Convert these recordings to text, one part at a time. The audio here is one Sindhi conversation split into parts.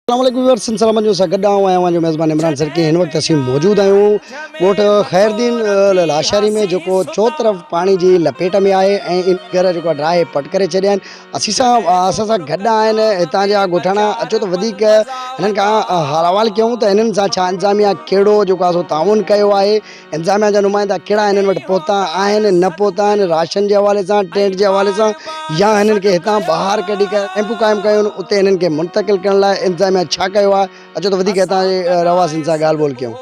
اسلام عليڪم ويورز سنڌ سلامت نيوز سان گڏ آئون آهيان اوهان جو ميزبان عمران سرڪي هن وقت اسين موجود آهيون ڳوٺ خيردين لاشاري ۾ جيڪو چو طرف پاڻي جي لپيٽ ۾ آهي ۽ ان گهر جيڪو ڊراهي پٽ ڪري ڇڏيا آهن اسين سان اسان سان گڏ آهن هتان جا ڳوٺاڻا اچو ته وڌيڪ هنن کان حوال ڪيون ته هنن سان ڇا انتظاميا ڪهڙو جيڪو آسو تعاون ڪيو آهي انتظاميا جا نمائندا ڪهڙا هنن وٽ پهتا آهن نه پهتا آهن راشن جي حوالي سان ٽينٽ جي حوالي سان يا هنن کي هتان ٻاهر ڪڍي ڪري ڪئمپون قائم ڪيون آهن اتي هنن کي منتقل ڪرڻ لاء انتظاميا ڇا ڪيو آهي اچو ته وڌيڪ هتان جي رهواسين سان ڳالهه ٻولهه ڪيون.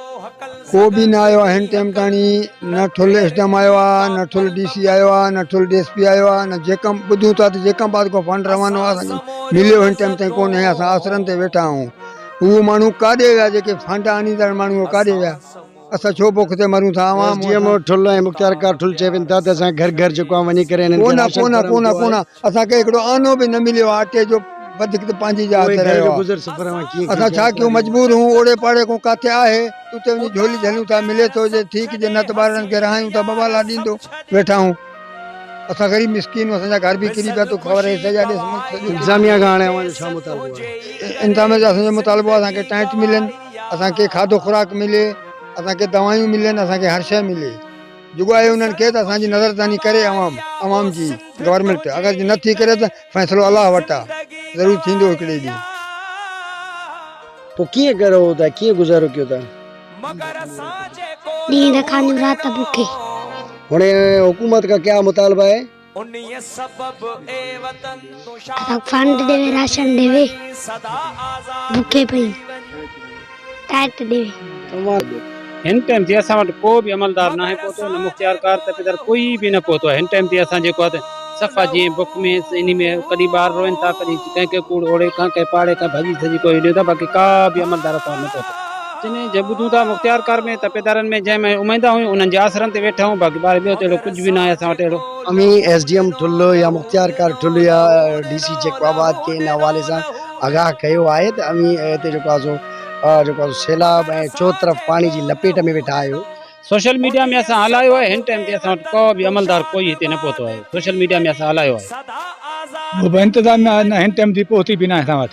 ڪو به نه آيو آهي هن ٽيم تاڻي نه ٺل ايس ڊي ايم آيو آهي نه ٺل ڊي سي آيو آهي نه ٺل ڊي ايس پي آيو آهي نه جيڪم ٻڌون ٿا ته جيڪم آباد کان فنڊ روانو آهي اسان کي مليو هن ٽيم تائين ڪونهي اسان آسرن تي ويٺا آهيون اهو ماڻهو ڪاڏي ويا جيڪي فنڊ آڻيندڙ ماڻهو ڪاڏي ويا اسان ڇو بک تي مرون ٿا اوهان مون سان. ايس ڊي ايم ٺل ۽ مختيارڪار ٺل چئي وڃن ٿا ته اسان گهر گهر جيڪو آهي وڃي ڪري هنن کي ڪونه راشن ڪونه ڪونه ڪونه اسان کي هڪڙو آنو به نه مليو آهي اٽي جو وڌيڪ ته پنهنجي جاء تي رهيو آهي گذر سفر اوهان ڪيئن ڪيو اسان ڇا ڪيون مجبور هون اوڙي پاڙي ڪو ڪاٿي آهي اتي وڃي جهولي جهليون ٿا ملي ٿو جي ٺيڪ جي نه ته ٻارڙن کي رهايون ٿا بوالا ڏيندو ويٺا آهون اسان غريب مسڪين اسان جا گهر به ڪري پيا تو خبر هي سڄا ڏس ملڪ سڄو انتظاميا کان هاڻي اوهان جو ڇا مطالبو آهي انتظاميا جو اسان جو مطالبو آهي اسان کي ٽينٽ ملن اسان کي کاڌو خوراڪ ملي، اسان کي دوائيون ملين، اسان کي هر شيء ملي. جڳو آهي انهن کي ته اسان جي نظرثاني ڪري عوام، عوام جي گورنمينٽ اگر جي نه ٿي ڪري ته فيصلو الله وٽ آ، ضرور ٿيندو هڪڙي ڏينهن. پوء ڪيئن گهر هو ته ڪيئن گذارو ڪيو ته. ڏينهن رکانيون رات بکي. هاڻي حڪومت کان ڪيا مطالبا آهي. انهيء سبب اي وطن تون شاد ڪر. ڪنهن راشن ڏيوي سدا آزاد ڪري. بکي پئي ٽائيٽ ڏيوي. سنوار جو هن ٽائيم تي اسان وٽ ڪو به عملدار ناهي پهتو نه مختيار ڪار تپيدار ڪوئي به نه پهتو آهي هن ٽائيم تي اسان جيڪو آهي ته صفا جيئن بک ۾ انهي ۾ ڪڏهن ٻار روئن ٿا ڪڏهن ڪنهن ڪنهن ڪوڙ اوڙي ڪنهن ڪنهن پاڙي کان ڀڄي سڄي ڪوئي ڏيون ٿا باقي ڪا به عملدار اسان وٽ نه پهتو. جنھن جي ٻڌون ٿا مختيار ڪار ۾ تپيدارن ۾ جنھن ۾ اميدان ھيون انھن جي آسرن تي ويٺا ھيون باقي ٻاھر ٻيو ته اھڙو ڪجھ به ناھي اسان وٽ اھڙو. اوھين ايس ڊي ايم ٺل يا مختيار ڪار ٺل يا ڊي سي جيڪب آباد کي ان حوالي سان آگاھ ڪيو آھي ته اوھين ھتي جيڪو آھي سو جيڪو آھي سو سيلاب ۽ چوطرف پاڻي جي لپيٽ ۾ ويٺا آھيو. سوشل ميڊيا ۾ اسان ھلايو آھي ھن ٽائيم تائين اسان وٽ ڪو به عملدار ڪوئي ھتي نه پهتو آھي سوشل ميڊيا ۾ اسان ھلايو آھي. ڪو به انتظاميه نه ھن ٽائيم تائين پهتي به ناھي اسان وٽ.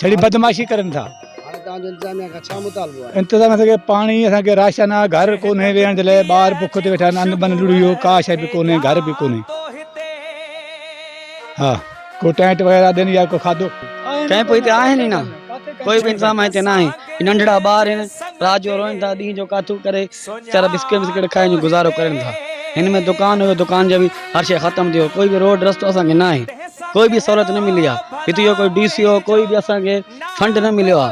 ڇڙي بدمعاشي ڪرن ٿا انتظاميا کي پاڻي اسان کي راشن آ گهر ڪونهي ويهڻ جي لاء ٻار بک تي ويٺا آهن بن لڙيو ڪا شيء به ڪونهي گهر به ڪونهي ها ڪو ٽينٽ وغيرها ڏين يا ڪو کاڌو ڪنهن پوء هتي آهن ئي نه ڪوئي به انتظام هتي نه آهي ننڍڙا ٻار آهن رات جو روئن ٿا ڏينهن جو ڪاٿو ڪري ويچارا بسڪٽ وسڪٽ کائي اڃ گذارو ڪرين ٿا. هن ۾ دڪان هيو، دڪان جو به هر شيء ختم ٿيو، ڪوئي به روڊ رستو اسان کي ناهي، ڪوئي به سهولت نه ملي آ، هتي جو ڪوئي ڊي سي او ڪوئي به اسان کي فنڊ نه مليو آ،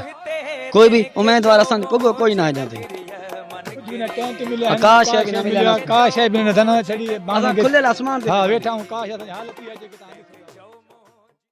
ڪوئي به اميدوار اسان جو پڳو ڪوئي ناهي جنهن تي ڪا شيء نه ملي آ. اسان کليل آسمان تي ويٺا آهيون.